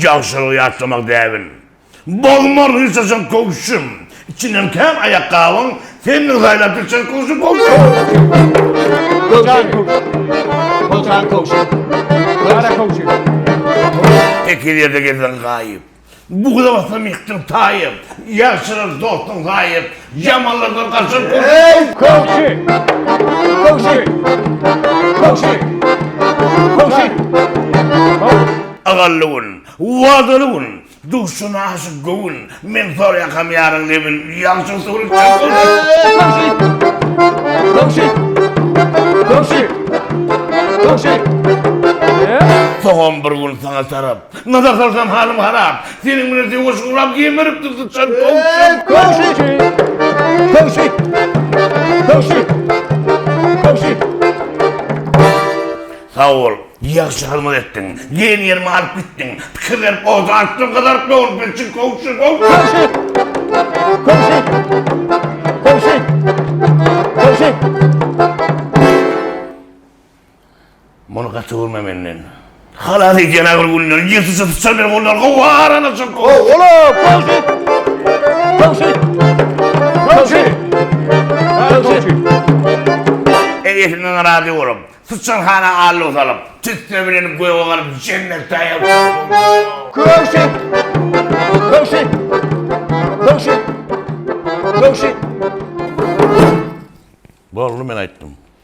Ýagşylygy ýatlamak däbin. Bolmar ryssaşyň köwşüm. Içinden kän aýakgabyň, Seniň saýlap gitjek köwşüm, köwşüm. Tekiz ýerde gezseň gaýyp. Bugula basam ýykdyň taýyp, Ýagşylar dostdan gaýyp, Ýamanlardan gaçyp ur. Eý, köwşi! Köwşi! Köwşi! Köwşi! Köwşi! Agally gün, wadaly gün, Duşuna aşyk göwün, Men sor ýakam ýaryň lebin, Ýagşyň suwuny içjek gün. Eý, köwşi! Köwşi! Köwşi! Köwşi! Köwşi! Sogam bir gün saňa tarap, Nazar salsam halym harap. Seniň bilen söweş guram gemiripdir syçan towşan. Köwşi! Köwşi! Köwşi! Köwşi! Sag bol. Ýagşy hyzmat etdiň. Diýen ýerime alyp gitdiň. Pikir berip ot atdyň gyzaryp dogrup bilçin köwşi köwşi. Köwşi! Köwşi! Köwşi! Köwşi! Muny gaty görme menden. Halas et ýene bir günleri ýetişe tutsa men ondan gowy aralaşyp. Gow ola Gowşy. Gowşy. Gowşy. Gowşy. Eýesinden razy bolup, syçan hana allo salyp, tüsse bilen göge galyp jennet taýýar bolsun. Gowşy. Gowşy. Gowşy. Gowşy. Boldy men aýtdym.